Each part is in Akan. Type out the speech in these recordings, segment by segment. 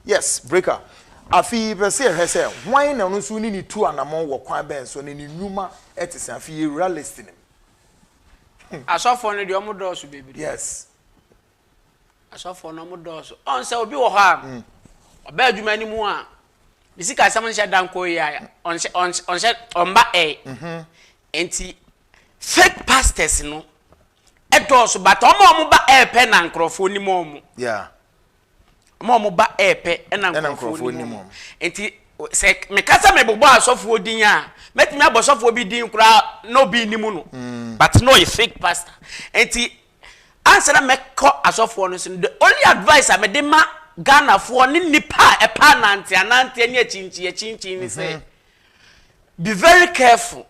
Yes, Breaker. Afei yɛpɛ sɛ yɛhwɛ sɛ hwan na ɔno nso ne no tu anammɔn wɔ kwan bɛn so, na ne nnwuma te sɛn. Afei yɛwura list no mu. Asɔfoɔ no deɛ wɔn dɔɔso bebree. Yes. Asɔfoɔ no wɔn dɔɔso. Ɔn sɛ obi wɔ hɔ a, ɔbɛ adwuma no mu a, ne sikasɛm nhyɛ da nkɔ yie a, ɔnhyɛ ɔnhyɛ ɔnhyɛ ɔmba ɛɛ. Nti fake pastors no ɛdɔɔso but wɔn a wɔn ba ɛɛ pɛ na nkorɔfoɔ nim wɔn. Yeah. Wɔn a wɔba repɛ na nkurɔfoɔ nim wɔn. Nti sɛ meka sɛ mebobɔ asɔfoɔ din a, mɛtumi abɔ sɔfoɔ bi din koraa na obi nnim no. Mm. But na ɔyɛ fake pastor. Nti ansa na mɛkɔ asɔfoɔ no so no, the only advice a mede ma Ghanafoɔ ne nnipa a ɛpɛ ananteananteɛ ne akyinkyin akyinkyin ne sɛ, mm-hmm. be very careful.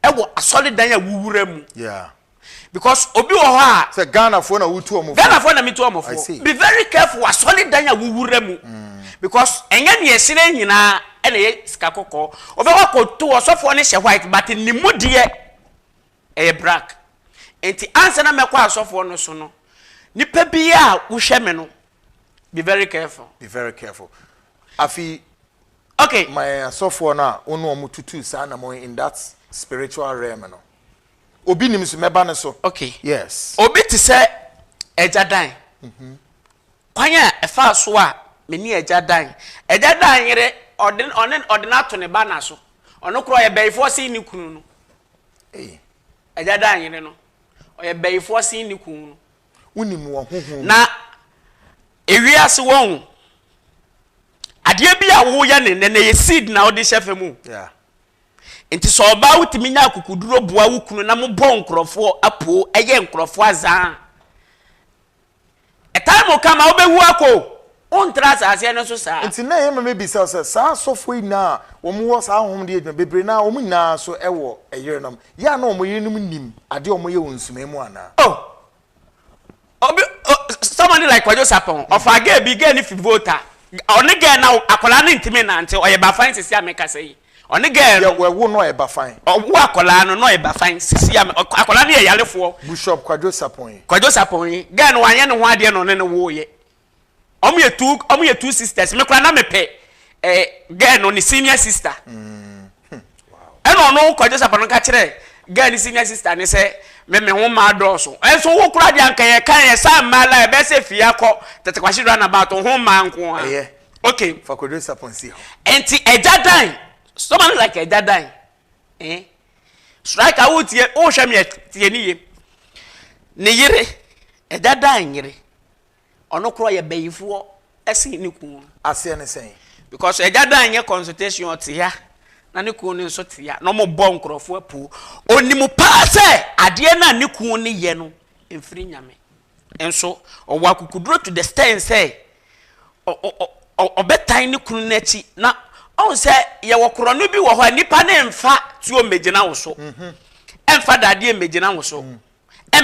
ɛwɔ asɔredan a wowura mu. Yeah. Because obi wɔ hɔ a. Sɛ Ghanafoɔ na wotu ɔmo fo. Ghanafoɔ na metu ɔmo fo. Be very careful asɔredan a wowura mu. Because ɛnyɛ nea ɛhyerɛn nyinaa ɛna ɛyɛ sika kɔkɔɔ. Wobɛkɔ akɔto ɔsɔfoɔ no hyɛ white but ne mu deɛ ɛyɛ brack. Nti ansa na mɛkɔ asɔfoɔ no so no, nipa biara a wohwɛ me no, Be very careful. Be very careful. Afi. Okay. Ma yɛn asɔfoɔ no a wo ne wɔn tutu saa na mo in that spiritual realm no. Obi nim so mɛba ne so. Okay. Yes. Obi te sɛ ɛgya dan. Mm-hmm. Kwan a ɛfa so a me ne ɛgya dan. Ɛgya dan yere ɔde ɔne ɔde no ato ne ba na so. Ɔno kora ɔyɛ bɛyifoɔ sen ne kunu no. Ɛgya dan yere no ɔyɛ bɛyifoɔ sen ne kunu no. Wonim wɔ honhom mu. Na ewiase wɔn adeɛ bi a woyɛ ne nnɛ na ɛyɛ seed na wode hyɛ fam o. Yeah. Nti sɛ ɔbaa wotumi nya akukuduro boa wo kunu na mobɔ nkurɔfoɔ apuo ɛyɛ nkurɔfoɔ azaa. A time will come a wobɛwu akɔ o. Wontra asaaseɛ no so saa. Nti na ɛyɛ ma mebisa sɛ, saa asɔfoɔ yi nyinaa a wɔn wɔ saa honhom de yɛ adwuma, bebree no ara, wɔn nyinaa nso wɔ yerenom. Yɛ a na wɔn yerenom nim adeɛ a wɔyɛ wɔ nsumae mu anaa? Oh! Obi, somebody like Kwadwo Sarpong, ɔfaa girl bi, girl no fi Volta, ɔne girl no awo, akwadaa no ntumi nnante, ɔyɛ Bafan sisi a mekasa yi. Ɔne girl no. Yɛ wɔwo no ɔyɛ Bafan. Ɔwo akwadaa no na ɔyɛ Bafan sisi a, akwadaa no yɛ yarefoɔ. Bushop Kwadwo Sarpong yi. Kwadwo Sarpong yi, girl no wanyɛ ne ho adeɛ na ɔne no wooyɛ. Ɔmo yɛ two ɔmo yɛ two sisters me koraa na me pɛ ɛɛ eh, girl no ne senior sister. Mm. Hmm. Wow. Ɛna ɔno kɔgye sapa no ka kyerɛ girl ne senior sister ne sɛ me me ho mmaa dɔɔso. Ɛnso wo koraa deɛ anka yɛ kan yɛ saa mmaa la ɛbɛyɛ sɛ fie akɔ tete kwasi run about ho mmaa nko ara. Ɛyɛ. Okay. Fa kɔgye sapa nsi hɔ. Ɛnti ɛgya dan someone like ɛgya dan. Eh? Strike a wotie wohwɛ me tie ne yie. Ne yere ɛgya dan yere. Ɔno kora yɛ bayifoɔ sen ne kunu no. Aseɛ ne sɛn? Because agya Dan nyɛ consultation ɔte ha na ne kunu no nso te ha na wɔn bɔ nkorɔfoɔ apuo. Onim paa sɛ adeɛ no a ne kunu no yɛ no mfiri Nyame. Nso ɔwɔ akukuduro to the stand sɛ ɔbɛtan ne kunu no akyi na ɔhu sɛ yɛwɔ korɔno bi wɔ hɔ a nipa no mfa tuo mmɛgyina wo so. Ɛmfa dadeɛ mmɛgyina wo so.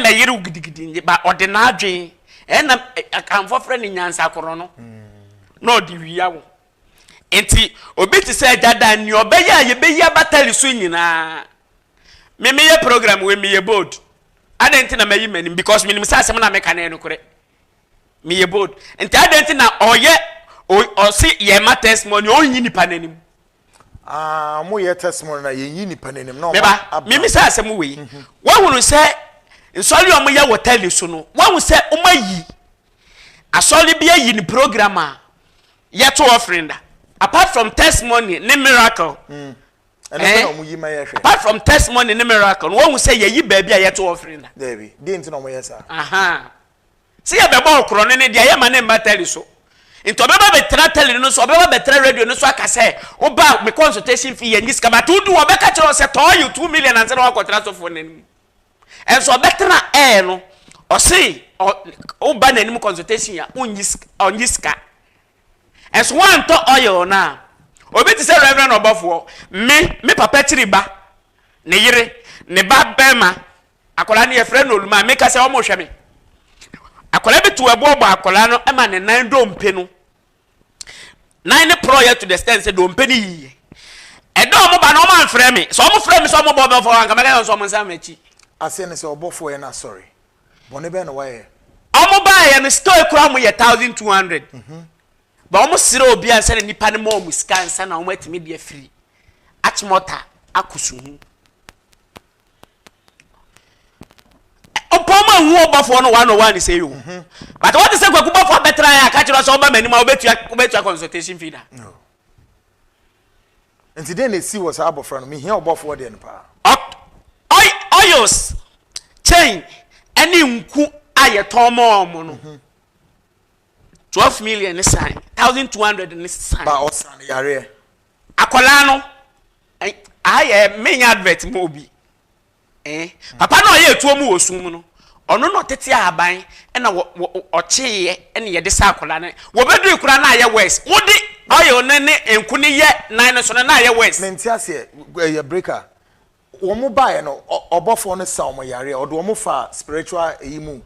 ma yere wo gidigidi nde ba ɔde n'adwen ɛna akanfoɔ frɛ no nyansakorɔ no na ɔde wia wo nti obi te sɛ agya dan nea ɔbɛyɛ a yɛbɛyi abatali so nyinaa me meyɛ program wei meyɛ bold adɛn nti na mayi m'anim because menim sɛ asɛm na meka no yɛ nokorɛ meyɛ bold nti adɛn nti na ɔyɛ ɔse yɛma testimony ɔnyi nipa n'anim Ah, mo yɛ testimony na yɛn yi nipa n'anim na ɔma abira. Meba, mimi sɛ asɛm wei. Mhm. Wahunu sɛ nsɔre a wɔyɛ wɔ tele so no, wahu sɛ wɔayi asɔre bi ayi ne program a yɛto offering da. Apart from testimony ne miracle. Mm. Ɛno eh? na wɔn yi ma yɛ hwɛ. Apart from testimony ne miracle, wɔn sɛ yɛyi baabi a yɛto offering da. Dɛbi, di nti na wɔn yɛ saa. Aha. Sɛ yɛbɛbɔ wo korɔno ne deɛ yɛmma no mma tɛli so. Nti ɔbɛba bɛtra tɛli no so, ɔbɛba bɛtra radio no so aka sɛ woba me consultation fee yɛnnye sika but wodi hɔ ɔbɛka kyerɛ wo sɛ tɔɔ you two million ansa na woakɔtra sɔfoɔ no anim. Ɛnso ɔbɛtra ɛɛ no ɔse woba n'anim consultation a wonnye sika, ɔnnye sika. Ɛnso woantɔ oil no a, obi te sɛ Reverend ɔbɔfoɔ, me, me papa kyiri ba, ne yere, ne ba bɛɛma, Akwadaa no yɛfrɛ no Olumaa. Meka sɛ wɔrehwɛ me. Akwadaa bi to ɛboɔ bɔ akwadaa no ma ne nan dompe no. Nan no porɔeɛ to the extent sɛ dompe no yiiɛ. Ɛda wɔn ba no wɔn amfrɛ me. Sɛ wɔn frɛ me sɛ wɔn bɔ bɛfɔ wɔn anka mɛka sɛ wɔn nsa m'akyi. Aseɛ ne sɛ ɔbɔfoɔ yɛ no asɔre. Bɔne bɛn na wayɛ? Wɔn baeɛ no sika a ekura wɔn yɛ thousand two hundred. Ba wɔn srɛ obi ansa na nipa no ma wɔn sika ansa na wɔn atumi de afiri Achimota akɔ suhu. ɔpɔn mu ehu ɔbɔfoɔ no one on one sɛ yio mhm. but wɔn ti sɛ kwaku bɔfoɔ abɛtena yɛ akakyerɛ sɛ ɔba mɛnim a ɔbɛtua ɔbɛtua consultation fee da. nti den na esi wɔ saa abɔfra no mihia ɔbɔfoɔ deɛ no paa. oils chain ɛne nku a yɛtɔn mɔ ɔmo no mhm. twelve million ne san thousand two hundred ne san. ba ɔsan yareɛ. akwadaa no. Ei aha yɛ me nyɛ advert ma obi ee papa no a ɔyɛ atuo mu wɔ sum mu no ɔno na ɔtete ahaban ɛna wɔ wɔ ɔkyeeɛ ɛna yɛde saa akwadaa no wɔbɛdui koraa na ayɛ worse mode oil no ne nku no yɛ nan no so no na ayɛ worse. Mente aseɛ ɛyɛ breaker wɔn baeɛ no ɔbɔfoɔ no sa wɔn yareɛ ɔde wɔn faa spiritual ɛyi mu.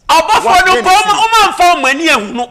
Ɔbɔfoɔ no mpo wɔn wɔn amfa wɔn ani ahunu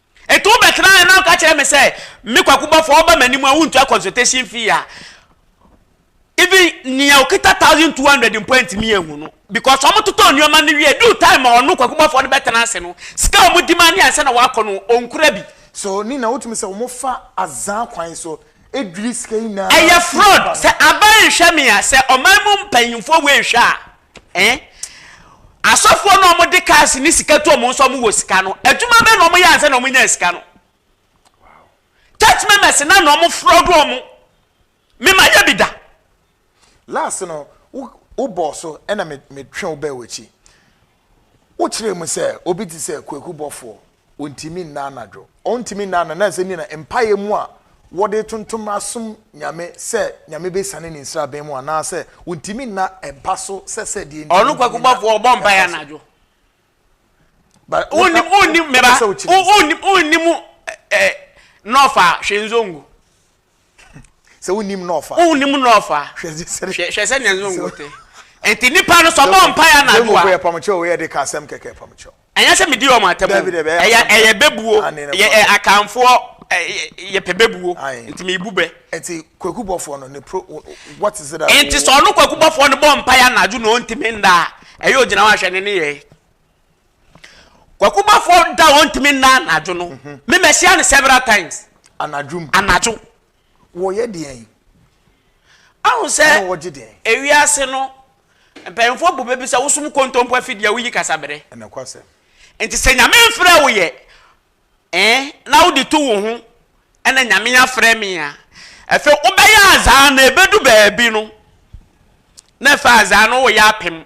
Enti wobɛtena ha na woka kyerɛ me sɛ, me Kwaku bɔfoɔ, woba m'anim a wontua consultation fee a, even nea okita thousand two hundred mpo antumi anhu no because wɔn totɔ nneɛma no wie due time a ɔno Kwaku bɔfoɔ no bɛtena ase no, sika a wɔn di ma ne ansa na wakɔ no, ɔnkura bi. So ne na wotumi sɛ wɔn fa azaa kwan so dwiri sika nyinaa. Ɛyɛ fraud. Sɛ aban nhwɛ me a, sɛ ɔman mu mpanyinfoɔ wei nhwɛ a. Ɛn? Asɔfoɔ no a wɔn de cars ne sika tu wɔn nso wɔn wɔ sika no, adwuma bɛn na wɔn yɛ ansa na wɔn nyaa sika no? Church members na na wɔn fraud wɔn. Me ma yɛ bi da. Last no, wo wo bɔɔ so ɛna me me twe wo bɛɛ w'akyi. Wo kyerɛ mu sɛ obi te sɛ Kweku Bɔfoɔ Ontumi nna anadwo. Ontumi nna anadwo. Ɛnam sɛ ne nyinaa mpaeɛ mu a wɔde tontom asom Nyame sɛ Nyame bɛsiane ne nsraban mu anaa sɛ ontumi nna mpa so sɛ sɛ deɛ nti ontumi nna mpa so. Ɔno kwaku bɔfoɔ ɔbɔ mpaeɛ anadwo. Wonnim wonnim meba wonnim wonnim nɔɔfa hwɛ nzongo. Sɛ wonnim na ɔfa. Wonnim na ɔfa. Hwɛ sɛnea ɛso ngo te. Enti nnipa no sɛ ɔbɔ mpaeɛ anadwo a. Yɛ pam kyɛw o, yɛ de ka asɛm kɛkɛ pam kyɛw. Ɛnyɛ sɛ medi wɔn atam o, ɛyɛ ɛyɛ bɛbuo, yɛ akanfoɔ yɛpɛ bɛbuo, nti mebu bɛ. Nti kwaku bɔfoɔ no ne pro what is it that. Nti sɛ ɔno kwaku bɔfoɔ no bɔ mpaeɛ anadwo na ɔntumi nda a, ɛyɛ ogyina hɔ ahwɛ ne ne yɛe. Kwakubafoɔ da a wɔntumi nna anadwo no, mhm. me mahyia no several times. Anadwo mu. Anadwo. Wɔyɛ deɛn? Ahu sɛ ewiase no mpanyinfoɔ bu bɛbi sɛ wosom kontompo afidie a woyi kasabere. Ɛnɛkwasɛm. Nti sɛ nyame mfrɛ wo yɛ eh, na wode to wo ho ɛna nyame afrɛ me a ɛfɛ wobɛyɛ azaa na ɛbɛdu baabi no na ɛfɛ azaa no woyɛ apem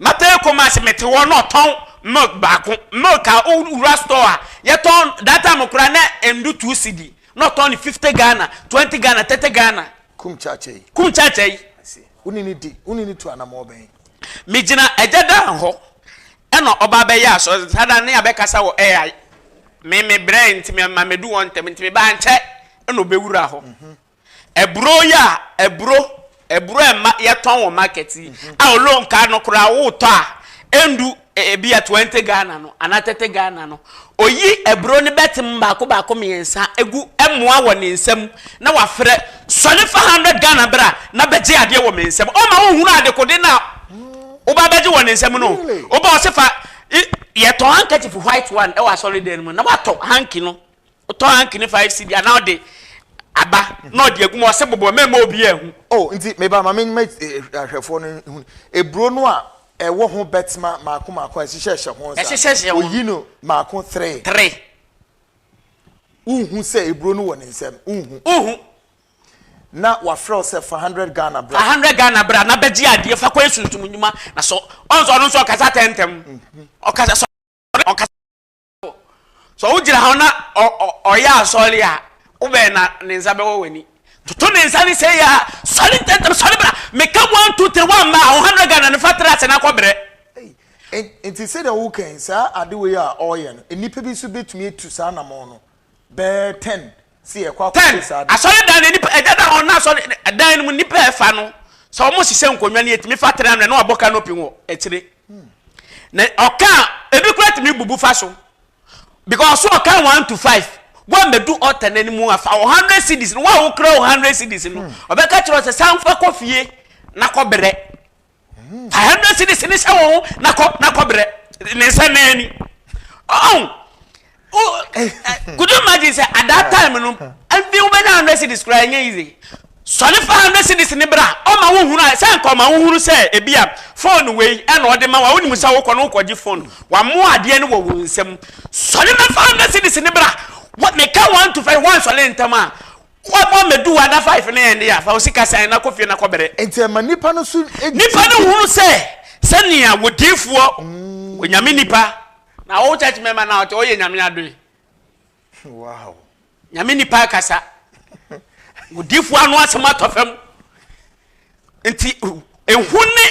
Mapɛɛ Kumasi mete hɔ na ɔtɔn milk baako milk a wo wura store a yɛtɔn that time koraa na endu two cedi na ɔtɔn no fifty Ghana twenty Ghana thirty Ghana. Kum Kyakyayi. Kum Kyakyayi. I see wo ne no di wo ne no tu anamɔ bɛn. Me gyina Agya Dan hɔ ɛna ɔba abɛyɛ asɔre saa da no ne abɛ kasa wɔ ai me me brɛɛ nti me ma medu hɔ ntɛm nti me ba ankyɛ ɛna ɔbɛ wura hɔ. Aburo yi a aburo aburo a ɛma yɛtɔn wɔ market yi a ɔlo nkaa no koraa wotɔ a ɛndu ebi a twenty Ghana no anaa thirty Ghana no oyi aburo no bɛtem baako baako mmiɛnsa egu ɛmoa wɔ ne nsam na wafrɛ sɔre fa hundred Ghana bra na bɛgye adeɛ wɔ me nsam ɔma wohunu adekode no a woba bɛgye wɔ ne nsam no woba ɔse fa yɛtɔn handkerchief white one ɛwɔ asɔre dan no mu na watɔ hanky no Wotɔ hanky ne five cedi anaa ɔde Aba na ɔde agu mu ɔse bobɔ mɛmma obiaa nhu. Oh nti meba ma menma ahwɛfoɔ no nhu aburo no a ɛwɔ ho bɛtma maako maako a ɛhyehyɛ hyɛ ho saa oyi no maako three. Three. Wonhu sɛ aburo no wɔ ne nsam wonhu. Wonhu. Na wafrɛ wo sɛ fa hundred Ghana bra. Fa hundred Ghana bra na bɛgye adeɛ fa kɔyɛ sunsum nnwuma na sɔ ɔn sɛ ɔno nso ɔkasa tɛntɛm ɔkasa sɔre ɔkasa. sɛ wogyina hɔ na ɔyɛ asɔre a wobɛn na ne nsa bɛwɔ w'ani toto ne nsa ne sɛ yɛ a sɔre ntɛntɛm sɔre bra meka one two three one ma ahoha no gana ne fa tra ase na kɔbrɛ nti sɛdeɛ wokan saa ade wei a ɔreyɛ no nnipa bi nso bɛtumi atu saa namɔn no Bɛyɛ ten si yɛ kɔ akɔ si saa. Ten asɔredan no nipa ɛda na wɔn asɔre dan no mu nipa ɛfa no sɛ wɔn hyehyɛ nkonnwa no etumi fa tena mu na na wabɔ canopy wɔ akyire na ɔka ebi kura tumi bubu fa so because so ɔka one to five wɔn abɛdu ɔta n'anim afa o hundred cedis no wɔn a wokura o hundred cedis no ɔbɛka kyerɛ ɔsɛ sanfa kɔ fie na kɔ brɛ Fa hundred cedis no hyɛ wo ho na kɔ na kɔ brɛ ne nsa na ani. Oh, oh, could you imagine sɛ at that time no ɛnfi wo bɛnya hundred cedis koraa ɛnyɛ easy. Sɔre fa hundred cedis ne bra ɔma wo hunu a sɛ nka ɔma wo hunu sɛ ebi a phone wei ɛna ɔde ma wa wonim sɛ wokɔ no wokɔ gye phone wamoa adeɛ no wɔ wo nsam sɔre mɛfa hundred cedis ne bra meka one to five wansɔre ntɛm a Wa bɔ mɛdu wa da five ne yɛn de ya fa osika san na kɔ fie na kɔ bere. Nti ɛma nipa no so. Nipa no hunu sɛ sɛ nea wɔ diifoɔ wɔ nyame nipa. Na wo church member na ɔte ɔyɛ nyame adoe. Wow. Nyame nipa akasa. Wɔ diifoɔ ano asɛm atɔ fam. nti ehu ne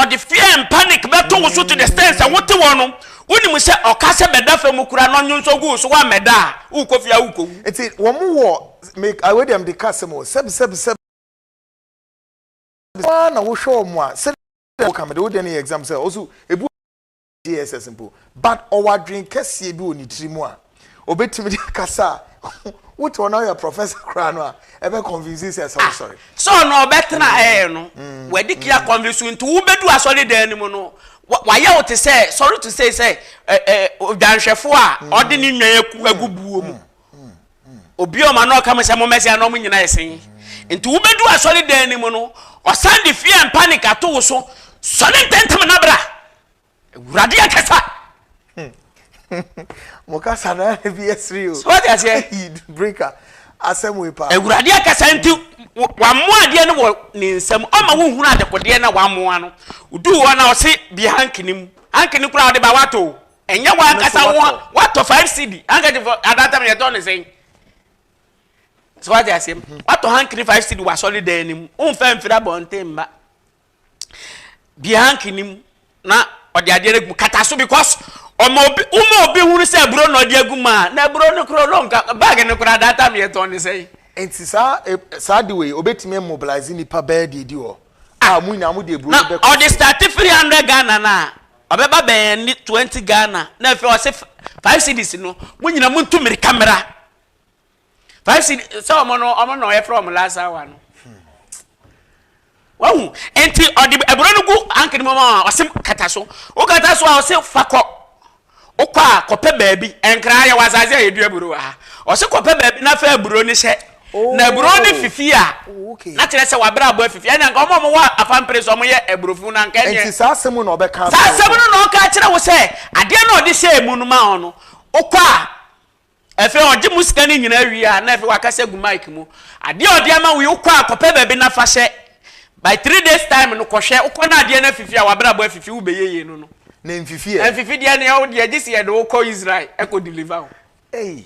ɔde fear and panic bɛto wo so to the extent sɛ wote wɔ no wonim sɛ ɔka sɛ bɛda fam mu kura na ɔnwo nso gu so woammɛda a wokɔ fie a wokɔwu nti wɔn wɔ awɛ deɛ mede ka sɛ mo sɛbisɛbisɛbi na wohwɛ wɔn a sɛ woka mede wodeɛ no yɛ exam sɛ ɔso ebu JSS mpo, but ɔwɔ adwene kɛseɛ bi wɔ ne tiri mu a, obɛtumi de akasa a, wote ɔno ayɛ professor koraa no a, ɛbɛ convince sɛ ɛsɛ wosɔre. Sɛ ɔno ɔbɛtena mm. ɛɛ no, mm. wɔde kia mm. convince nti wobɛdu asɔre dan no mu no, wayɛ wo te sɛ, sorry to say sɛ, odwanhwɛfoɔ a ɔde ne nnwan agu buo mu. Obi a ɔma no ɔka mo sɛ mommɛsɛe na wɔnyina ɛsen yi. Nti wobɛdu asɔre dan no mu no, ɔsan de fear and panic ato wo so, sɔre ntɛntɛm na bra! Awurade akasa! Mo kasa na na bi ɛsere o. Sɛ wɔte aseɛ. Eid breaker asɛm wei paa. Awurade akasa nti wamoa adeɛ no wɔ ne nsam ɔma wo hunu adekodeɛ na wamoa no. Oduu hɔ na ɔse bie hanky no mu. Hanky no koraa ɔde ba wato o. Ɛnyɛ wo ankasa wo watɔ five cd handkerchief adatam yɛ tɔ ne sɛn so wate aseɛ mu mhm. watɔ hankini five cd wɔ asɔre dan no mu womfa mfiri abɔnten mma bie hankini mu na ɔde adeɛ no agu kata so because ɔma obi woma obi hunu sɛ aburo na ɔde agu mu a na aburo no korɔ no nka baage no korɔ adatam yɛ tɔ ne sɛn nti saa e, saa de wei obetumi mobilize nipa bɛɛ deɛ di hɔ a mo nyinaa mo de aburo no bɛkɔ na ɔde start three hundred ghana na Ɔbɛba bɛn ani twenty Ghana na afei ɔse five cedis no mo nyina mo ntu mirika mera five cedis sɛ ɔmo no ɔmo na ɔyɛ frɛ ɔmo last hour no wahu nti ɔde ɛburo no gu ankere mu ma ɔse kata so wo kata so a ɔse fakɔ wokɔ a kɔpɛ baabi nkra yɛ wɔ asase a yɛdua buro wɔ ha ɔse kɔpɛ baabi na fa aburo no hyɛ na aburo no fifi a, na kyerɛ sɛ w'abrabɔ afifi. Ɛnna nka wɔn a wɔwɔ apampere so wɔyɛ aburofo na nka ɛnyɛ. Nti saa asɛm mu na ɔbɛka akyerɛ wo. Saa asɛm no na ɔka akyerɛ wo sɛ adeɛ no a ɔde hyɛɛ mu no maa wo no, wokɔ a, afei ɔgye mu sika no nyinaa wie a, na afei wakasa agu mic mu. Adeɛ a ɔde ama wo yi, wokɔ a, kɔpɛ baabi na fa hyɛ. By three days time no, kɔhwɛ. Wokɔ na adeɛ no afifi a, w'abrabɔ afifi, wobɛyɛ yie no no. Na ɛmfifi ɛ? Ɛmfifi deɛ ne ɛwo deɛ, gye sɛ yɛde wo kɔ Israel kɔ deliver wo. Ei!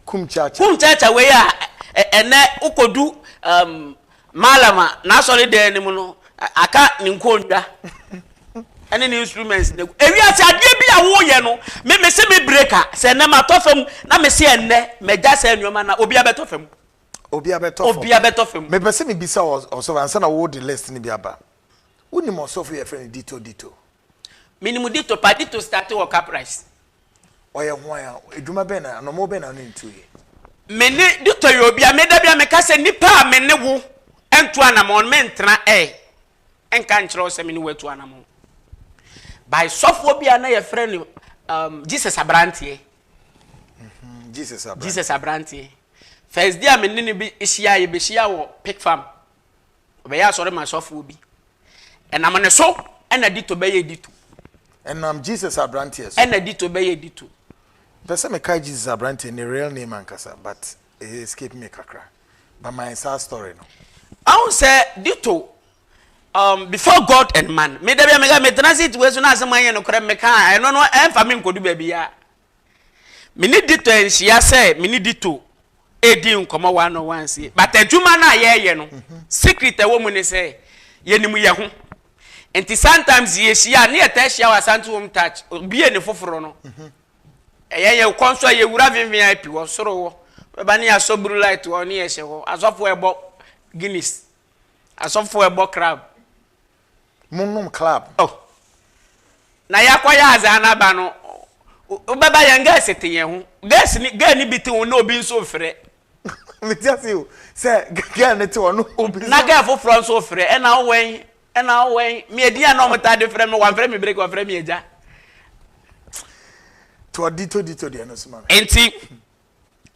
kum kyaakya. Kum kyaakya wei a ɛnɛ wokodu um, Malam a n'asɔre dan no mu no, aka ne nkonnwa ɛne ne instruments ne ewiase adeɛ bi a woyɛ no me me se me breka sɛ ɛnɛ matɔ fam na me se ɛnɛ magya sɛ nneɛma na obi abɛtɔ fam obi abɛtɔ fam obi abɛtɔ fam mepɛ sɛ mebisa ɔsɔfo ansa na wo de list no bi aba wonim ɔsɔfo yɛfrɛ no dito dito Minim Dito pa, Dito starte wɔ Caprice. Ɔyɛ hwan a, adwuma bɛn na anɔmɔ bɛn na ɔne no tu yɛ? Me ne Dito yɛ obi a me da bi a meka sɛ nipa a me ne wo ntu anamɔn no mentena ɛ nka nkyerɛ wo sɛ me ne wo atu anamɔn. By sɔfoɔ bi a na yɛfrɛ no um, Jesus Abranteɛ. Mm-hmm. Jesus Abranteɛ. Jesus Abranteɛ. First day a me ne no bi hyia yɛ bɛhyia wɔ Pick Farm. Ɔbɛyɛ asɔre ma sɔfoɔ bi. Ɛnam ne so ɛna dito bɛyɛ dito. Ɛnam Jesus abranteɛ so. Ɛna dito bɛyɛ dito. Mpɛ sɛ mekae Jesus abranteɛ ne real name ankasa but ɛyɛ escape me kakra. But my saa story no. Ahun sɛ dito um, before God and man. Me da bi a meka me transit wei so na asɛm ayɛ no korɛ meka a ɛno no ɛmfa me nkɔdu baabi a. Me ne Dito anhyia sɛ me ne Dito redi nkɔmmɔ one on one sei. But adwuma no a yɛreyɛ no, secret a ɛwɔ mu ne sɛ yɛnim yɛn ho. Nti sometimes yɛhyia a, na yɛtaa hyia wɔ Asante Home Touch, obue ne foforo no. Ɛyɛ yɛn kɔ nso a yɛwura VVIP wɔ soro hɔ. Bɛba ne yɛasɔ blue light hɔ ne yɛhyɛ hɔ. Asɔfoɔ ɛbɔ Guinness. Asɔfoɔ ɛbɔ crab. mo nom club. Oh na ya kɔ yɛ adze a na ba no wo bɛ ba yɛn girls te yɛn ho girls ne girl ne bi te ho na obi nso refrɛ. Me te ase o sɛ girl ne te hɔ no obi nso. Na girl foforɔ nso refrɛ ɛna wo wɛn ɛna wo wɛn me edin a na wɔn taa de frɛ me wɔn frɛ me break wɔn frɛ me agya. To ɔdi to di to deɛ no so ma me. Nti.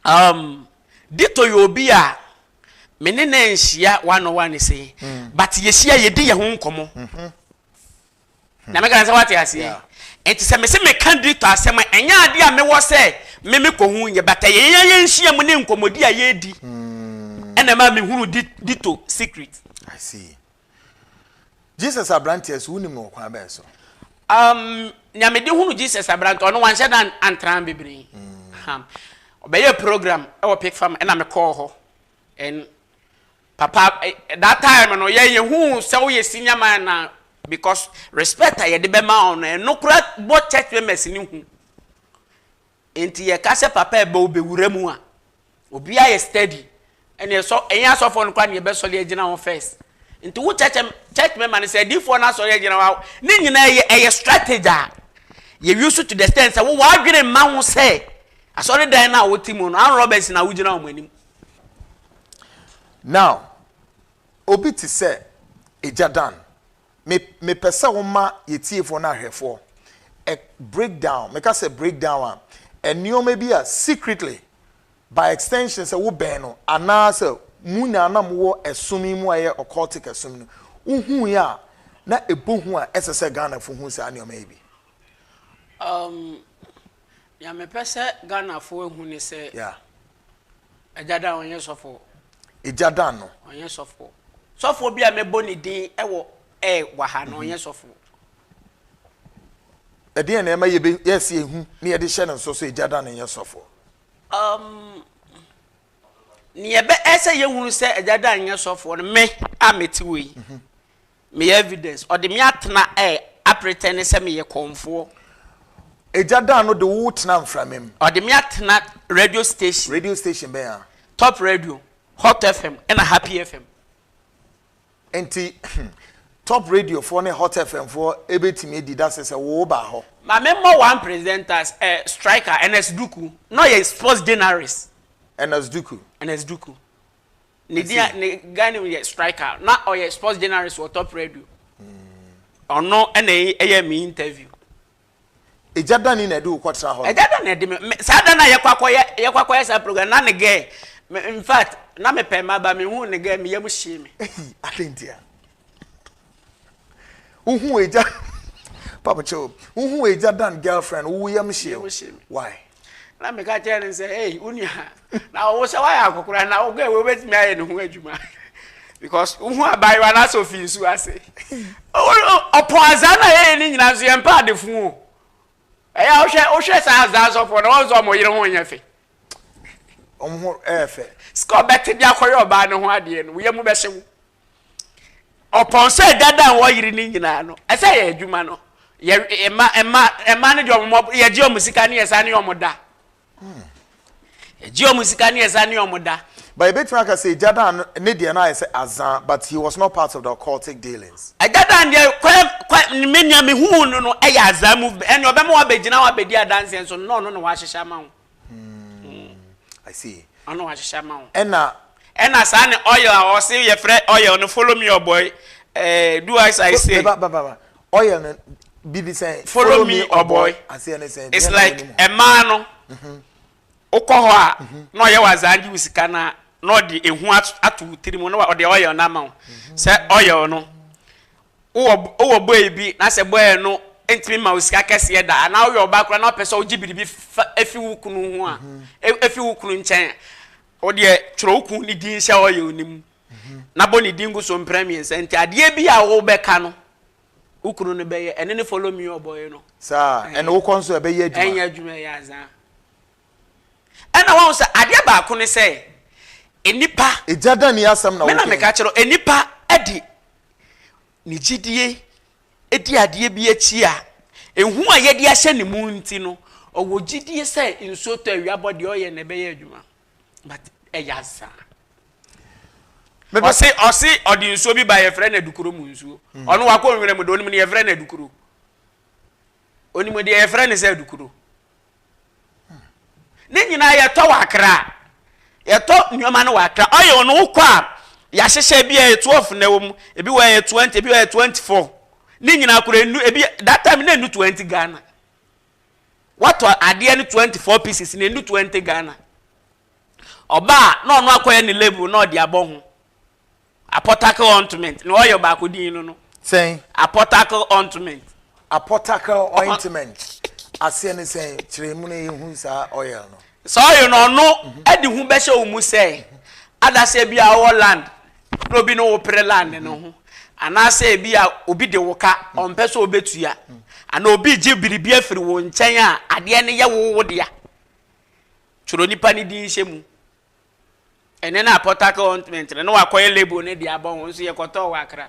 Um, Dito yɛ obi a me ne no nhyia one on one se mm. but yɛhyia yɛdi yɛ ho nkɔmmɔ mm-hmm. na meka sɛ wate aseɛ nti sɛ mese meka Dito asɛm a ɛnyɛ adeɛ a mewɔ sɛ me mekɔ ho nyɛ but ɛyɛ yɛn yɛnhyia mu ne nkɔmmɔdi a yɛdi mm. ɛna ma mehunu Dito secret I see. Jesus aberanteɛ so, wonim no wɔ kwan bɛn so? Um, nea mede hunu Jesus aberanteɛ, ɔno wanhyɛ da antra bebree. Mm. Ɔbɛyɛ program ɛwɔ Pick Farm, ɛna mekɔɔ hɔ. And papa, eh, that time no, yɛ yɛhu sɛ woyɛ senior man na because respect a yɛde bɛma ɔno, ɛno kora bɔ church members ne hu. Nti yɛka sɛ papa ɛbɛ wo bɛwura mu a obia yɛ steady ɛne ɛsɔ ɛnyɛ asɔfoɔ no koraa ne yɛbɛsɔre agyina wɔn first nti wo church church member no sɛ adiifoɔ no asɔre agyina wo a ne nyinaa ɛyɛ ɛyɛ strategy a yɛ use to the extent sɛ wo w'adwene mma ho sɛ asɔre dan no a wote mu no armed robbers na wogyina wɔn anim Now obi te sɛ Agya Dan me mepɛ sɛ wo ma yɛ tiefoɔ no ahwɛfoɔ a break down meka sɛ break down a nneɛma bi a secretly by extension sɛ wo bɛn no anaa sɛ mu nyinaa na mowɔ ɛsom yi mu a ɛyɛ occultic ɛsom no wohu yi a na ɛbɔ hu a ɛsɛ sɛ Ghana fo hu saa nneɛma yi bi. Um, Nea mepɛ sɛ Ghanafoɔ ahu ne sɛ. Yeah. Agya Dan ɔnyɛ sɔfoɔ. Agya Dan no. Ɔnyɛ sɔfoɔ. Sɔfoɔ bi a mɛbɔ ne din wɔ ɛ wɔ ha no mhm. ɔnyɛ sɔfoɔ. Ɛdeɛn na ɛma yɛbɛ yɛsi ehu na yɛde hyɛ ne nso so Agya Dan no nyɛ sɔfoɔ. Um, nea ɛbɛ ɛsɛ yɛhunu sɛ Agya Dan nyɛ sɔfoɔ no me a mete wɔ yi. Mhm. Meyɛ evidence. Ɔde me atena eh, apretɛne sɛ meyɛ kɔmfoɔ. Egya daa no de wo tenaa mframa mu. Ɔde me atena radio station. Radio station bɛn a? Top radio, Hot FM ɛna Happy FM. Nti Top radio foɔ ne Hot FM foɔ ɛbɛtumi adi dase sɛ wo baa hɔ? Ma me mmɔ one presenters eh, striker, Ernest Duku, na ɔyɛ sports journalist. Ernest Duku. Ernest Duku. Ne din a ne guy name yɛ Striker. Na ɔyɛ sports journalist wɔ Top Radio. Ɔno na ɛyɛɛ me interview. Egya Dani na ɛde wo kɔtra hɔ no? Egya Dani na ɛde me. Saa da no a yɛkɔ akɔyɛ yɛkɔ akɔyɛ saa program na ne guy in fact na mepɛ mma ba mehuu ne guy me yam hyee me. Eyi adɛn ntia? Uhu eja Papa Cho, uhu eja dan girlfriend, uwu yam shiew. Why? Na me ka kyerɛ ne sɛ, hey, uni ha. Na ɔwo sɛ woayɛ akɔkora na wogɛ wo wobɛtumi ayɛ ne ho adwuma. Because uhu abaayewa na sɛ ofi nsu ase. Ɔpɔ azaa na yɛyɛ ne nyinaa nso yɛmpɛ adefo o. Ɛyɛ a wohwɛ wohwɛ saa azaa sɔfoɔ na wɔn nso wɔn yere ho nyɛ fɛ. Wɔn ho ɛyɛ fɛ. Sika ɔbɛte de akɔyɛ ɔbaa ne ho adeɛ no, wo yam bɛhyew. Ɔpɔn sɛ dada a wɔyere no nyinaa no, ɛsɛ yɛ adwuma no. Yɛ mma mma mma no deɛ wɔn yɛgye wɔn sika ne yɛsa ne wɔn da. Yɛgye wɔn sika ne yɛsa ne wɔn da. But ebetumi aka sɛ Gyadan ne deɛ no ayɛ sɛ azan but he was not part of the occultic dealings. Gyadan deɛ kɔ kɔ me nea me hu no no ɛyɛ azan movement ɛnna ɔbɛma wabɛgyina hɔ abɛdi adanseɛ nso nnɔɔ no na wahyehyɛ ama ho. Hmm. I see. Ɔno wahyehyɛ ama wo. Ɛna. Ɛna saa ne oil a ɔse yɛfrɛ oil no follow me ɔbɔ yi. Eh, do as I say. Ba ba ba. Oil no bibi sɛn. Follow me ɔbɔ yi. Aseɛ ne sɛn. It's like ɛmaa no. Mhm. Wokɔ hɔ a mhm. na ɔyɛ wazaa gye wo sika na na ɔde ehu ato tiri mu na ɔde oil no ama wo. Mhm. Sɛ oil no. Wowɔ wowɔ bɔe bi na sɛ bɔe no ntumi mma wo sika kɛseɛ da anaa woyɛ ɔbaa koraa na wopɛ sɛ wogye biribi fa efi wo kunu ho a e- efi wo kunu nkyɛn a, wo deɛ twerɛ wo kunu ne din hyɛ ɔyɛw no mu na bɔ ne din gu so mprɛ mmiɛnsa nti adeɛ bi a wobɛka no wo kunu no bɛyɛ ɛne ne follow me ɔbɔe no Saa ɛna ɛɛ wokɔ nso ɛbɛyɛ adwuma. ɛnyɛ adwuma ɛyɛ azaa. Ɛna wahu sɛ adeɛ baako ne sɛ nnipa. Egya dɛn ne asɛm na woka yi? Me na meka kyerɛ wo, nnipa de ne gyidie di adeɛ bi akyi a, ehu a yɛde ahyɛ ne mu nti no, ɔwɔ gyidie sɛ nsuo tɔ awia bɔ deɛ ɔyɛ no ɛbɛyɛ adwuma. But ɛyɛ asa. Ɔse ɔse ɔde nsuo bi ba yɛfrɛ no adukuro mu nsuo. Hmm. Ɔno wakɔ nwura mu de onim ne yɛfrɛ no adukuro. Onim deɛ yɛfrɛ no sɛ adukuro. Ne nyinaa yɛtɔ wɔ akra. Yɛtɔ nneɛma no wɔ akra. Oil no wokɔ a yɛahyehyɛ ebi a ɛyɛ twelve na ɛwɔ mu, ebi wɔ ɛyɛ twenty, ebi wɔ ɛyɛ twenty four. Ne nyinaa kora enu ebi that time na enu twenty Ghana. Watɔ adeɛ no twenty four pieces na enu twenty Ghana. Ɔbaa na ɔno akɔyɛ ne label na ɔde abɔ ho. Apɔtakl Ɔintment na ɔyɔ baako din no no. Sɛn? Apɔtakl Ɔintment. Apɔtakl Ɔintment aseɛ ne sɛn? Kyerɛ mu na yɛhu saa oil no. Saa oil no ɔno mhm. de hu bɛhyɛ wo mu sɛ mhm. adaseɛ bi a ɔwɔ land na obi ne wo pere land no mhm. ho anaasɛ ebi a obi de wo ka ɔmpɛ sɛ ɔbɛtua anaa obi gye biribi afiri wo nkyɛn a adeɛ no yɛ wo wo dea twerɛ nipa no din hyɛ mu Ɛnnɛ no a Port Harcourt Ointment no na wɔakɔyɛ label no de abɔ ho nso, yɛkɔtɔɔ wɔ Accra.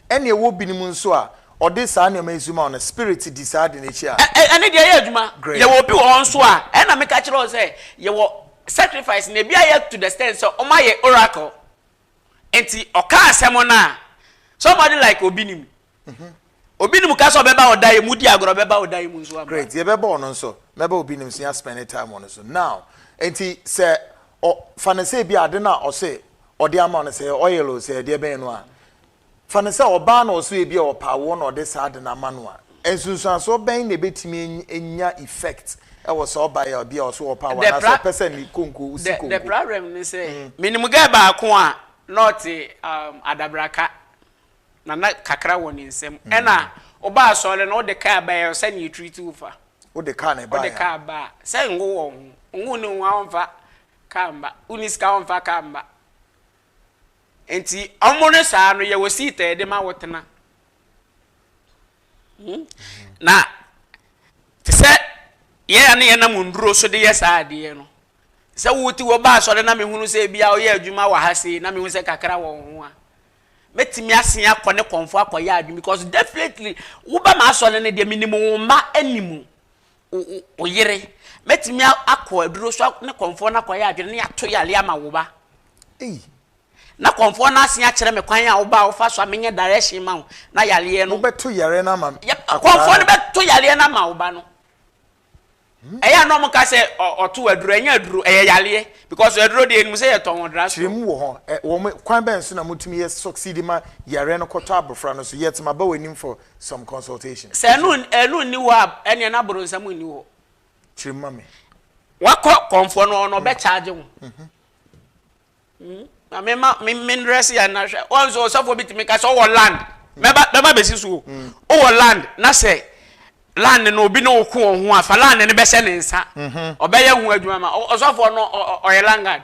Ɛnna ɛwɔ binom nso a, wɔde saa nneɛma yi nso ma wɔn, na spirit di saa ade no akyi a. Ɛ, ɛno deɛ ɛyɛ adwuma. Great. Yɛwɔ obi wɔ hɔ nso a, ɛnna meka kyerɛɛ wo sɛ yɛwɔ sacrifice no, ebi ayɛ to the extent sɛ wɔayɛ oracle. Enti ɔkaa asɛm no a, somebody like Obinim, Mhm. Obi nim ka sɛ ɔbɛba wɔ dan yi mu di agorɔ bɛba wɔ dan yi mu nso aba. Great, yɛbɛba ɔno nso. Mɛba obi nim so yɛ spend time ɔno so. Now, nti sɛ ɔ fa no sɛ bi ade no a ɔse ɔde ama no sɛ oil o sɛ ɛdeɛ bɛn no a, fa no sɛ ɔbaa na ɔse ebi a ɔpa awoɔ na ɔde saa ade no ama no a, nsunsuansoɔ bɛn na ɛbɛtumi anya effect ɛwɔ saa ɔbaa yi a ebi a ɔse ɔpa awoɔ anaasɛ ɔpɛ sɛ ne konko si konko. The problem ne sɛ, menim girl baako a na ɔte um, adabraka. na na kakra wɔ ne nsam. Ɛna wobaa asɔre no wode kaa bae a ɔsɛ ne yɛ treat wo fa. Wode kaa na ɛbae a. Wode kaa ba a. Sɛ ngo wɔ ho. Ngo ne ho a wɔmfa kaa mma. Wonni sika wɔmfa kaa mma. Nti wɔn no saa no yɛwɔ seat a yɛde ma wo tena. Hmm? Na te sɛ yɛn a ne yɛnam nduro so de yɛ saa adeɛ no sɛ wote wɔ ba asɔre na mehunu sɛ bia woyɛ adwuma wɔ ha sei na mehunu sɛ kakra wɔ ho a Mɛtumi asen akɔ ne kɔnfo akɔyɛ adwene because definitely woba m'asɔre no deɛ menim wo mma anim wo yere. Mɛtumi akɔ aduro so ne kɔnfo no akɔyɛ adwene ne ato yale ama wo ba. Ei. Na kɔnfo no asen akyerɛ me kwan a wo ba a wofa so a menyɛ direction ma wo na yareɛ no. Wobɛto yareɛ no ama. Kɔnfo no bɛto yareɛ no ama wo ba no. Ɛyɛ a na ɔmo ka sɛ ɔtow aduro, ɛnyɛ aduro, ɛyɛ yareɛ because aduro deɛ yɛnim sɛ yɛtɔn wɔ drug store. Kyerɛ mu wɔ hɔ. Wɔn kwan bɛn so na motumi yɛ succeed ma yareɛ no kɔtɔ abofra no so yet maba w'anim for some consultation? Sɛ ɛno ɛno nni hɔ a, ɛneɛ na boronsam nni hɔ. Kyerɛ mu ma me. Wakɔ kɔmfoɔ no hɔ na ɔbɛ charge wo. Maame ma me me ndrɛs yɛ na hwɛ wɔn nso ɔsɔfoɔ bi tumi ka sɛ ɔwɔ land mɛba mɛba bɛsi so o mm. ɔwɔ land na sɛ land no obi ne ɔko wɔn ho a fa land no bɛhyɛ ne nsa mhm. ɔbɛyɛ ho adwuma ma ɔsɔfoɔ no ɔyɛ langard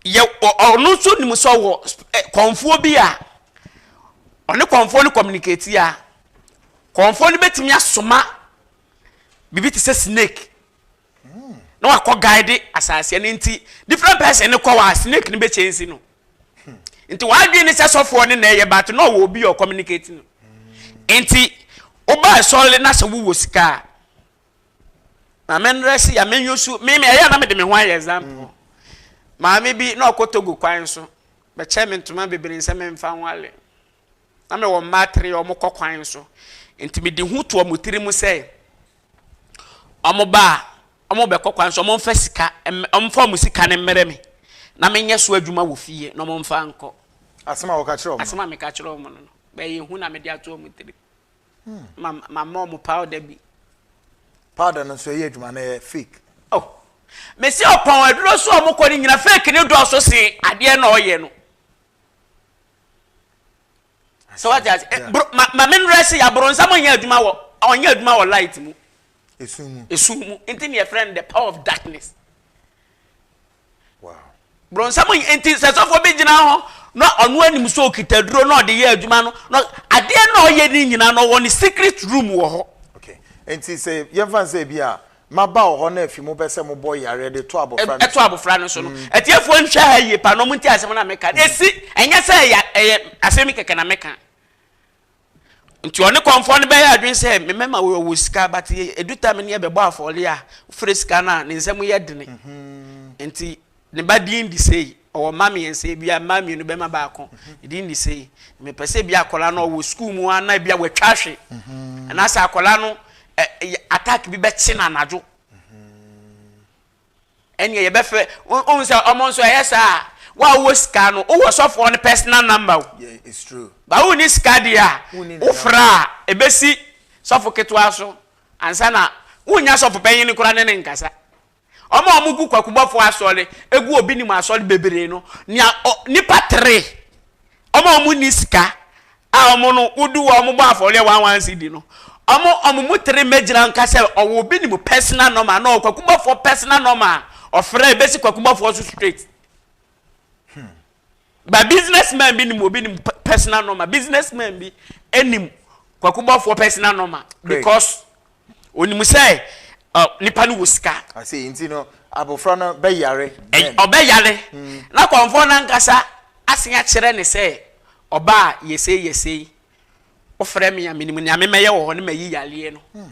yɛ ɔno nso nim sɛ ɔwɔ eh, kɔnfoɔ bi a ɔne kɔnfoɔ no communicate a kɔnfoɔ no bɛtumi asoma biribi te sɛ snake. na wakɔ guide asase no nti different person no kɔ wa snake no bɛ change no nti wadwene ne sɛ sɔfoɔ ne na ɛyɛ but na ɔwɔ obi ɔ communicate no nti woba ɛsɔre na sɛ wowɔ sika a maame nrɛ si ya menyɛ su meme ɛyɛ na mede me ho ayɛ example maame bi na ɔkɔ togo kwan so bɛkyɛ me ntoma bebree sɛ memfa nwale na mewɔ mma atere a wɔkɔ kwan so. Enti mede hu to wɔn tirim sɛ, wɔba a, wɔbɛkɔ kwan so, wɔmfa sika, wɔmfa wɔn sika no mmrɛ me, na menyɛ so adwuma wɔ fie na wɔmfa nkɔ. Asɛm a wɔka kyerɛ wɔn. Asɛm a meka kyerɛ wɔn no, bɛyɛ hu na mede ato wɔn tirim. Hmm. Ma mama wɔn powder bi. Powder no nso ɛyɛ adwuma na ɛyɛ fake. Oh. Mesi ɔpɔn aduro so a wɔkɔ no nyina fake ne dɔɔso se adeɛ na ɔyɛ no. so wate ase eh, bro ma ma me mmerɛ se aboronsam ɔnyɛ adwuma wɔ ɔnyɛ adwuma wɔ light mu esu mu esu mu nti ne yɛfrɛ no the power of darkness wow boronsam nti sɛ sɔfoɔ bi gyina hɔ na ɔno anim sɛ ɔkita duro na ɔde yɛ adwuma no na adeɛ na ɔyɛ ne nyinaa na ɔwɔ ne secret room wɔ hɔ okay nti sɛ yɛmfa sɛ bi a Maba wɔ hɔ na afi mo pɛ sɛ mo bɔ yareɛ de to abɔfra no so. To abɔfra no so no. Atiefoɔ nhwɛ ha yie paa na wɔn ntie asɛm no a meka no. Ɛsi, ɛnyɛ sɛ ɛyɛ, ɛyɛ asɛm yi kɛkɛ na meka. Nti ɔne kɔmfoɔ no bɛyɛ adwene sɛ, me mɛma wo, ɔwɔ sika, but ɛdu time no yɛbɛbɔ afɔreɛ a, wofrɛ sika no a, ne nsam yɛ dene. Nti. Ne ba din de sei, ɔwɔ mma mmiɛnsa, ebia mmaa mmienu, bɛrima baako. Ne din de sei. Mepɛ sɛ ebia akwadaa no ɔwɔ sukuu mu a na ebia watwa ahwe. Anaasɛ akwadaa no ɛ yɛ attack bi bɛkye no anadwo. Ɛnneɛ yɛbɛfrɛ, wohu sɛ wɔn nso ɛyɛ saa a, wo a wowɔ sika no, wowɔ sɔfoɔ no personal number o. Yeah, it's true. Ba wonni sika deɛ a, Wonni ne wofrɛ a, ɛbɛsi sɔfo ketewa so ansa na wonnya sɔfo panyin no koraa ne ne nkasa. Wɔn a wɔgu kwakubɔfoɔ asɔre, gu obi nim asɔre bebree no, nea ɔ, nipa tere, wɔn a wɔnni sika, a wɔn no, wodu hɔ a wɔbɔ afɔreɛ one one cedi no, wɔn, wɔn mu tere mmɛgyina nka sɛ ɔwɔ obi nim personal normal, na ɔwɔ kwakubɔfoɔ personal normal, ɔfrɛ, ɛbɛsi kwakubɔfoɔ so straight. Hmm. But business man bi nim obi nim personal number business man bi nim kwakubɔfoɔ personal number because onim sɛ uh, nipa no wɔ sika. ase nti no abofra no bɛyare. ɔbɛyare hmm. na kɔnfɔn nankasa asen akyerɛ ne sɛ ɔbaa yɛsei yɛsei wofrɛ me a menim nea memɛyɛ wɔ hɔ ne mayi yareɛ no. Hmm.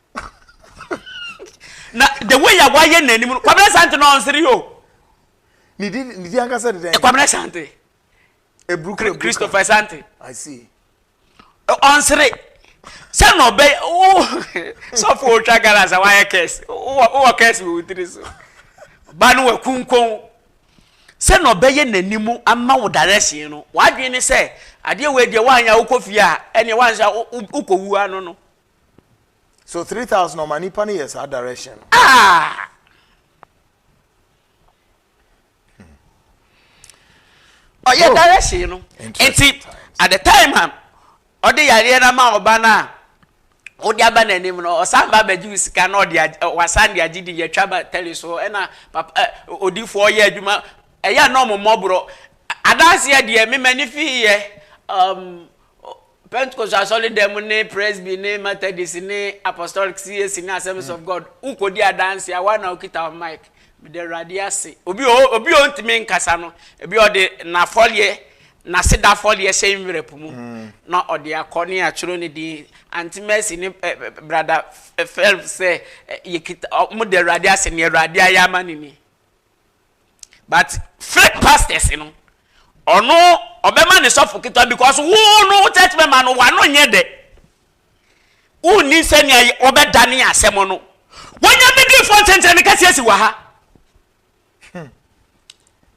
na the way a wayɛ n'anim no kwamina sante na ɔnsere o. ne di ne di ankasa de dɛn. kwamina sante. eburu kura christopher sante. i see. ɔnsere sɛ na ɔbɛ o sɔfo otwa gara sa wayɛ kɛse wowɔ kɛse wɔ wotiri so ba no wɔ kunkun sɛ na ɔbɛyɛ n'anim ama wo direction no wadwene ne sɛ adeɛ wɔ adiɛ wanyɛ wokɔ fie a ɛneɛ wanhyɛ wokɔ wu ano no. So three thousand ɔma nipa no yɛ saa direction no. Ah! ɔyɛ oh. direction no nti at the time a ɔde yareɛ no ama ɔba no a wode aba n'anim no ɔsan ba abɛgye wo sika na ɔde wasan de agye din yɛtwa ba tele so ɛna papa odifoɔ yɛ adwuma ɛyɛ a na ɔmo mmɔborɔ adanseɛ deɛ mema ne fii yɛ um, Pentekoste Asɔredɛm ne Presby ne Methodist ne Apostolic, CAC ne Assemblies of God, wo kɔ di adanse a, wo ara na wo kita wo mic. Meda Awurade ase. Obi wɔ hɔ, obi a ɔntumi nkasa no, ebi a ɔde n'afɔreɛ, n'aseda afɔreɛ hyɛ nwera po mu na ɔde akɔ ne yɛatwerɛ ne din. Aunty Mercy ne ɛ, ɛ, Brada Phelps sɛ, ɛ, yɛkita, ɔ, wɔda Awurade ase, nea Awurade ayɛ ama no ni. But fake pastors no, ɔno ɔbɛma ne sɔfo ketewa because wo no wo church member no wano nyɛ dɛ. Wonni sɛnea wɔbɛdane asɛm no. Wɔnyɛ bidifoɔ nkyɛnkyɛn no kɛseɛ si wɔ ha.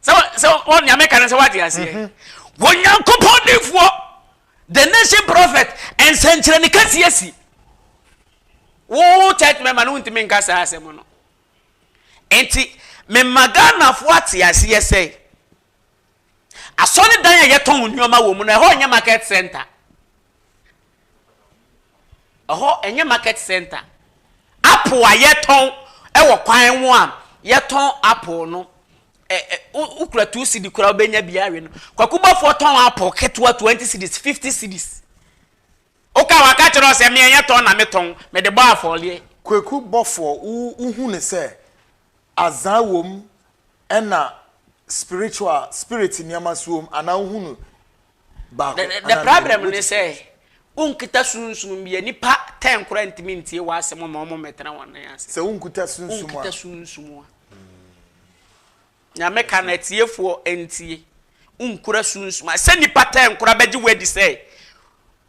Sɛ sɛ wɔn nea meka no sɛ wate aseɛ. Mhm. Wɔnyankopɔn difoɔ the nation prophet nsɛnkyerɛnne kɛseɛ si. Wo church member no wontumi nka saa asɛm no. Enti mema Ghanafoɔ ate aseɛ sɛ, asɔredan a yɛtɔn nneɛma wɔ mu no, ɛhɔ nyɛ market centre. Ɛhɔ nyɛ market centre. Apple a yɛtɔn wɔ kwan ho a yɛtɔn apple no, wokura two cedi koraa wobɛnya bi awe no. Kwakubafoɔ tɔn apple ketewa twenty cedis, fifty cedis. Oka waka kyerɛ wo sɛ me ɛnyɛ tɔn na me tɔn, me de bɔ afɔreɛ. Kweku bɔfoɔ wo wo hu no sɛ azaa wom ɛna spiritual spirit nneɛma nso wom anaa wo hu no baako The the anaa mmienu problem ne which sɛ is. wo nkita sunsum bi a nnipa ten koraa ntumi ntie w'asɛm ma wɔn mmɛtena wɔn nan ase. Sɛ wo nkuta Wo sunsum a. nkita sunsum a. Nyame ka no atiefoɔ ntie, wonkura sunsum a sɛ nnipa taa nkura bɛgye wo adi sɛ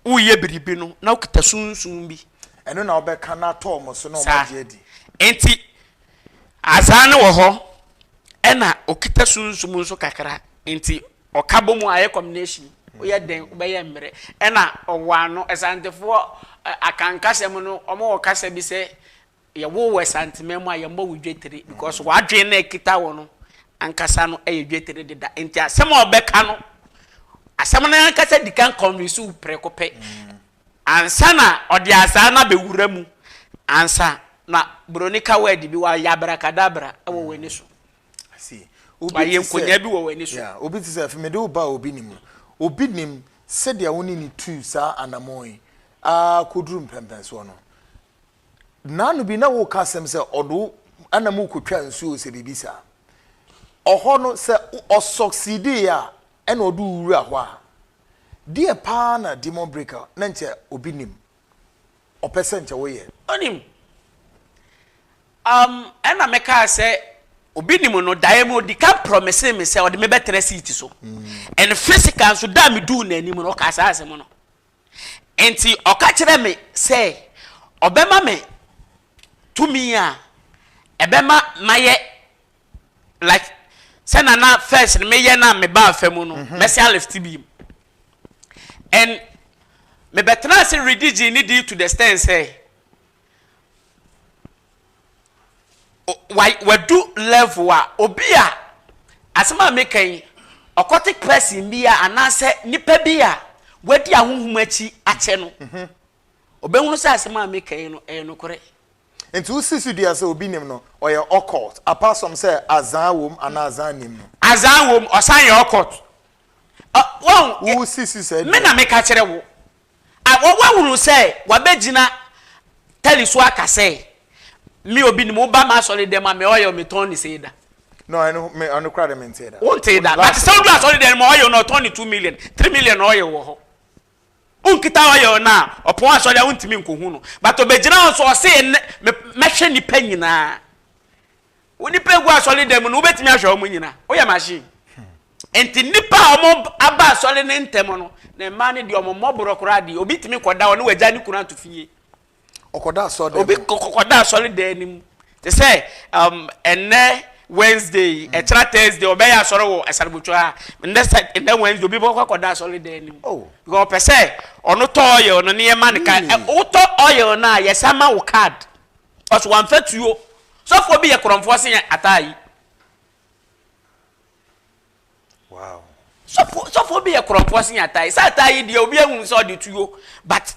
woyɛ biribi no na wokita sunsum bi. Ɛno na wobɛka no ato wɔn so na wɔn agye adi. Saa nti Azaa no wɔ hɔ ɛna okita sunsum nso kakra nti ɔka bɔ mu a ɛyɛ combination woyɛ dɛn wobɛyɛ mmerɛ ɛna ɔwɔ ano Asantefoɔ Akanka sɛm no wɔn wɔ kasa bi sɛ Yɛwoo wo Asanteman mu a yɛmmɔ wo dwetire because w'adwene no a ɛkita wo no ankasa no yɛ dwetire deda nti asɛm a ɔbɛka no asɛm no ankasa di kan convince wo prɛko pɛ ansa na ɔde asaa no abɛwura mu ansa na buroni ka word bi wayɛ abrakadabra wɔ w'ani so wayɛ nkonya bi wɔ w'ani so. Obi te sɛ afei mede wo ba a obi nim no obi nim sɛdeɛ wo ne ne tuu saa anamɔn yi ara kɔduru mpɛmpɛnsoɔ no. Nnaano bi na woka asɛm sɛ ɔde wo na mokɔtwa nsuo o sɛ biribi saa. Ɔhɔ no sɛ ɔ succeedee a ɛna ɔde wo wura hɔ a, deɛ paa na demon breaker na nkyɛ obi nim. Ɔpɛ sɛ nkyɛ woyɛ. Ɔnim. Um ɛna mekaa sɛ obi nim no daeɛ mu ɔdikan promisee me sɛ ɔde me bɛtena seat so and physical nso da a meduu n'anim no ɔkaa saa asɛm no. Enti ɔka kyerɛɛ me sɛ ɔbɛma me tumi a ɛbɛma mayɛ like sɛ na na first no meyɛ na mebaa fa mu no mhm. mɛsan lift bi mu and mebɛtena ase redi gye ne di to the stand sɛ Wadu level a obi a asɛm a meka yi occultic person bi a anaasɛ nipa bi a wadi ahonhom akyi akyɛ no mhm. obɛhunu sɛ asɛm a meka yi no ɛyɛ nokorɛ nti wosi so dua sɛ obi nim no ɔyɛ occult apart from sɛ azaa wom anaa azaa nim no azaa wom ɔsan yɛ occult wɔn wosi so sɛ me na meka kyerɛ wo a wɔahunu sɛ wɔabɛgyina tali so aka sɛ, Me obi nim, woba m'asɔredɛm a, me ɔyɛ o, metɔn ne sei da. No, ɛno, me, ɛno kora de mentee da. Wontee da, but sɛ wodu asɔredɛm mu a, ɔyɛ o no, ɔtɔn ne two million, three million na ɔyɛ o wɔ hɔ. Wonkita ɔyɛ o no a, ɔpɔn asɔre a wontumi nkɔhu no. But ɔbɛgyina hɔ nso, ɔse, Nnɛ, me, mɛhwɛ nnipa nyinaa. Wo nnipa egu asɔre dan mu no, wobɛtumi ahwɛ wɔn nyina? Woyɛ machine. Nti nnipa a wɔn aba asɔre no ntɛm no, na mmaa no deɛ wɔn mmɔ borɔ koraa deɛ, obi tumi kɔda hɔ na wagya ne kunu ato fie. Ɔkɔda asɔre dan mu. Obi kɔda asɔre dan no mu. Te sɛ um, ɛnɛ Wednesday, mm. ɛkyerɛ Thursday, ɔbɛyɛ asɔre wɔ Asarabotwa ha. Ɛnɛ sɛ ɛnɛ Wednesday, obi bɛkɔ akɔda asɔre dan no mu. Oh. Because ɔpɛ sɛ ɔno tɔ ɔyɛ ɔno ne yɛ ma ne card. Wotɔ ɔyɛ ɔno a yɛsan ma wo card. Ɔse wamfa tuo. Sɔfoɔ bi yɛ korɔmfoɔ se yɛn ataa yi. Wow. Sɔfoɔ sɔfoɔ bi yɛ korɔmfoɔ se yɛn ataa yi. Sɛ ataa yi deɛ obi ahu sɛ ɔde tuo but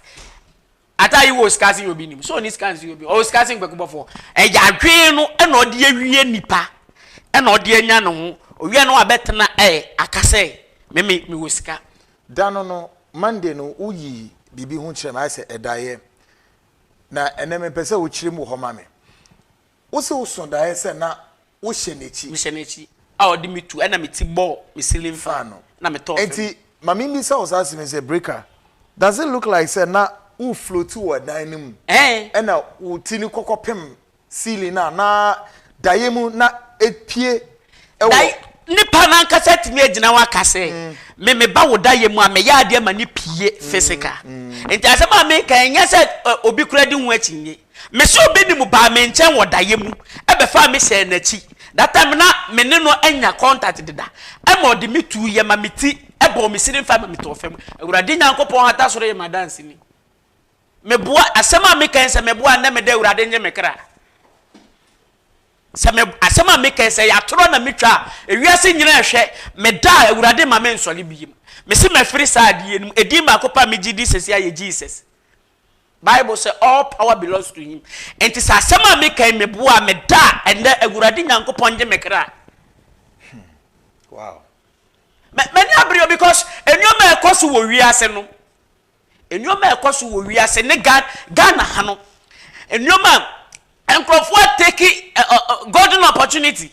ataa yi wɔ sika se yɛ obi nim. Sɛ ɔni sika se yɛ obi ɔwɔ sika se nkwakubɔfoɔ. Ɛyɛ adwene no ɛna ɔde awie nipa ɛna ɔde anya ne ho. Owia no abɛtena ɛ aka sɛ me me mewɔ sika. Da no no, Monday no, woyii biribi ho kyerɛɛ me, ayɛ sɛ ɛdaeɛ. Na ɛnnɛ mepɛ sɛ wokyerɛ mu wɔ hɔ ma me. Wose woso daeɛ sɛ na wohyɛ n'akyi. Mehyɛ n'akyi a ɔde me tu ɛna me ti bɔ me ceiling fan no na me tɔ fam. Enti ma memmisa wo saa asem yi sɛ Breaker, does it look like sɛ na wo floati wɔ ɛdan no mu ɛna wo ti no kɔkɔpem Ceiling no a na daeɛ mu na epue wɔ. Dae, nipa no ankasa atumi agyina ho aka sɛ, Me meba wo daeɛ mu a, mɛyɛ adeɛ ma no pue, physical. Nti asɛm a meka yi, ɛnyɛ sɛ obi koraa di ho akyinnye. Mese obi ne mu baa me nkyɛn wɔ daeɛ mu, ɛbɛfaa me hyɛɛ n'akyi. That time na me ne no anya contact deda. Ɛma ɔde me tuiɛ ma me ti bɔɔ me sini fam ma metɔɔ fam. Awurade Nyankopɔn hata soro yɛ m'adanseni. Meboa, asɛm a meka yi, sɛ meboa a, nnɛ meda Awurade nnye me kra. Sɛ me, asɛm a meka yi, sɛ ɛyɛ atorɔ na metwa a, ewiase nyina ɛhwɛ, meda a, Awurade ma me nsɔre biem. Mese mafiri saa adeɛ no mu. Edin baako pɛ a megye di sɛsi ayɛ Jesus. Bible sɛ all power belongs to him. Enti sɛ asɛm a meka yi, meboa a, meda a, ɛnnɛ Awurade Nyankopɔn nnye me kra. Hmm. Wow. M'ani abere o because nneɛma a ɛkɔ so wɔ wiase no, Nneɛma a ɛkɔ so wɔ wiase ne Ghana ha no, nneɛma a nkurɔfoɔ ateki golden opportunity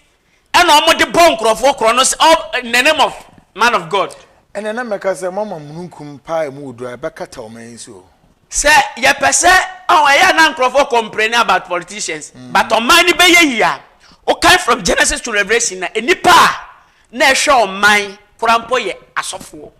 ɛna wɔde bɔ nkurɔfoɔ korɔ no sɛ in the name of man of God. Ɛnna na mɛka sɛ, Moama mununkum pa a emu wɔ duru a ɛbɛkata wɔn ani so. Sɛ yɛpɛ sɛ, ɔho, ɛyɛ a na nkurɔfoɔ complaining about politicians, but ɔman no bɛyɛ yie a, wokan from Genesis to Revelation a, nnipa a na ɛhwɛ ɔman koraa mpo yɛ asɔfoɔ.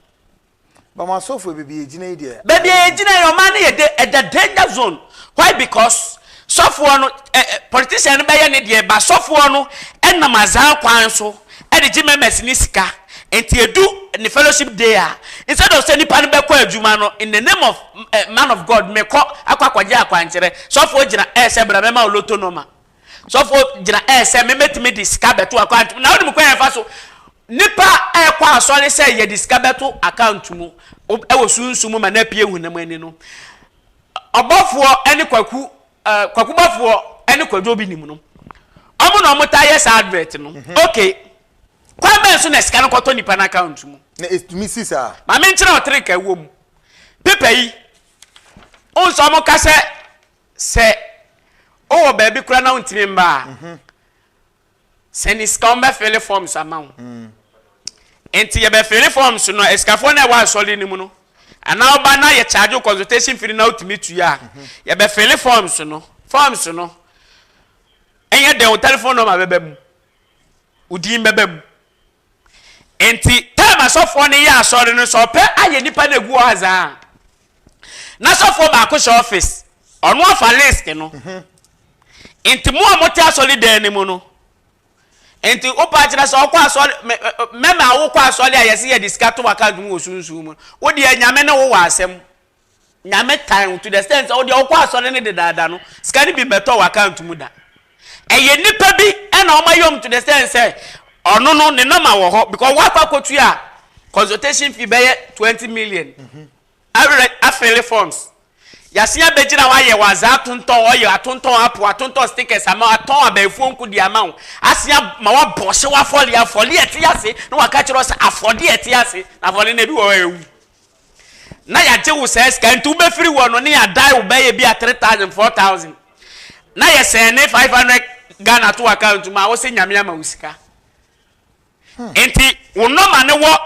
But mo asɔfo yɛ baabi a egyina yi deɛ. Baabi a egyina yi ɔman no yɛ de ɛda danger zone why because sɔfoɔ no ɛ ɛ politician no bɛyɛ ne deɛ but sɔfoɔ no ɛnam azaa kwan so ɛde gye members no sika nti edu ne fellowship day a instead of sɛ nipa no bɛkɔ adwuma no in the name of ɛ man of God mekɔ akɔ akɔgye akwankyerɛ sɔfoɔ gyina ɛɛsɛ bra mɛma wo lotto nɔma. Sɔfo gyina ɛɛ sɛ mɛtumi de sika bɛto account mu na wonim kwan ɛfa so nipa ɛkɔ asɔre sɛ yɛde sika bɛto account mu ɛwɔ sunsun mu ma na pie hunam ani no ɔbɔfoɔ ɛne kwaku ɛɛ kwaku bɔfoɔ ɛne kwadwo bi nim no ɔmo na ɔmo ta yɛ saa advert no mhm. okay kwan bɛn so na sika no kɔtɔ nipa no account mu na ɛtumi si saa maame nkyerɛ ɔtere ka ɛwɔ mu pepa yi ɔmo sɛ ɔmo ka sɛ Sɛ ɔwɔ baabi koraa na ɔntumi mma a, sɛ ne sika wɔn bɛ fele forms ama wo. Nti yɛ bɛ fele forms no asikafoɔ na ɛwɔ asɔre no mu no. Anaa ɔba na yɛ charge wo consultation fee na ɔtumi tua a, yɛ bɛ fele forms no. Forms no ɛnyɛ dɛn wo telephone number bɛba mu, wo din bɛba mu, Enti taim asɔfoɔ no yɛ asɔre no sɛ ɔpɛ ayɛ nnipa no agu hɔ adze a, na sɔfoɔ baako hyɛ ɔfis, ɔno afa list no. Enti mo a mote asɔre dan no mu no, enti wopaa kyerɛ sɛ ɔkɔ asɔre me mɛma wokɔ asɔre a yɛse yɛde sika to w'akaunt mu wɔ sunsum mu no, wodeɛ Nyame ne wo wɔ asɛm. Nyame tan wo to the extent sɛ wodeɛ wokɔ asɔre no dedaada no sika no bi mmɛtɔ wo account mu da. Ɛyɛ nnipa bi na wɔn ayɛ wɔn to the extent sɛ ɔno no ne number wɔ hɔ because wakɔ akɔtua consultation fee bɛyɛ twenty million awerɛ afele forms yɛasen abɛgyina hɔ ayɛ wɔ azaa atontɔn ɔyɛ atontɔn apo atontɔn stickers ama wo atɔn abɛɛfuo nko di ama wo asen ama wabɔ ɔhyew afɔle afɔle ɛte ase na waka kyerɛ wo sɛ afɔde ɛte ase na afɔle no ebi wɔ hɔ a ɛwu na yɛagye wo saa sika nti wobɛfiri hɔ no ne yɛadae wo bɛyɛ bi a 3000 4000 na yɛsɛn ne 500 ghana to account mu a wose nyame ama wo sika hmm. nti wo nɔma ne wɔ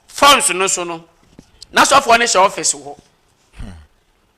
phones no so no na sɔfoɔ no hyɛ office hɔ hmm.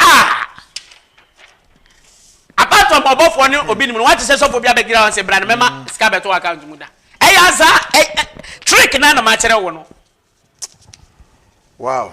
A! Apart from ɔbɔfoɔ ne obi nim no, wate sɛ sɔfoɔ bi abɛgyina hɔ sɛ bra no mɛma sika bɛto account mu da. Ɛyɛ aza trick na na makyerɛ wo no. Wow.